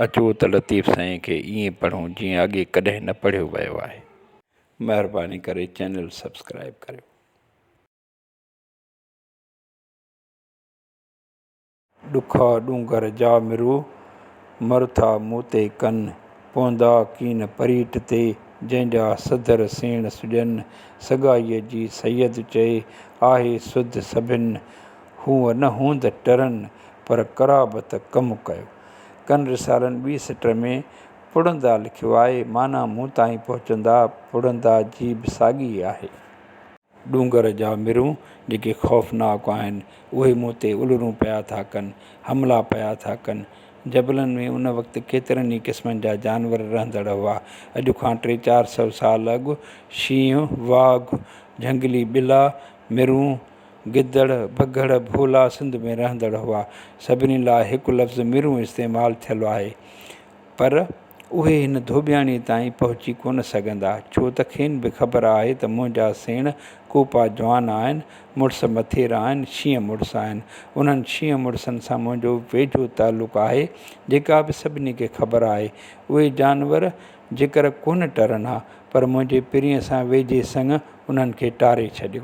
اچو ته لطيف سائين کي ائين پڙهون جيئن اڳي ڪڏهن نه پڙهيو ويو آهي مهرباني ڪري چينل سبسڪرائيب ڪريو. ڏکا ڏونگر جا مرو، مر ٿا مون تي ڪن. پوندا ڪين پريٽ تي، جنهن جا سڌر سيڻ سڄن. سگائيء جي سيد چئي، آهي سڌ سڀن. هونء نه هوند ٽرن، پر قرابت ڪم ڪيو. ڪن رسالن ٻي سٽر ۾ پڙهندا لکيو آهي، معنيٰ مون تائين پهچندا پڙهندا جي به ساڳي ئي آهي. ڏونگر جا مرون جيڪي خوفناڪ آهن، اهي مون تي الرون پيا ٿا ڪن، حملا پيا ٿا ڪن. جبلن ۾ ان وقت ڪيترن ئي قسمن جا جانور رهندڙ هئا. اڄ کان ٽي چار سؤ سال اڳ شينهن، واگهه، جهنگلي ٻلا، مرون، گدڙ، بگهڙ، ڀولا سنڌ ۾ رهندڙ هئا. سڀني لاء هڪ لفظ مرون استعمال ٿيل آهي. پر اهي هن ڌوٻياڻيء تائين پهچي ڪونه سگهندا، ڇو ته کين به خبر آهي ته منهنجا سيڻ ڪوپا جوان آهن، مڙس مٿيرا آهن، شينهن مڙس آهن. انهن شينهن مڙسن سان منهنجو ويجهو تعلق آهي، جيڪا به سڀني کي خبر آهي. اهي جانور جيڪر ڪونه ٽرن ها، پر منهنجي پرينء سان ويجهي سڱ انهن کي ٽاري ڇڏيو.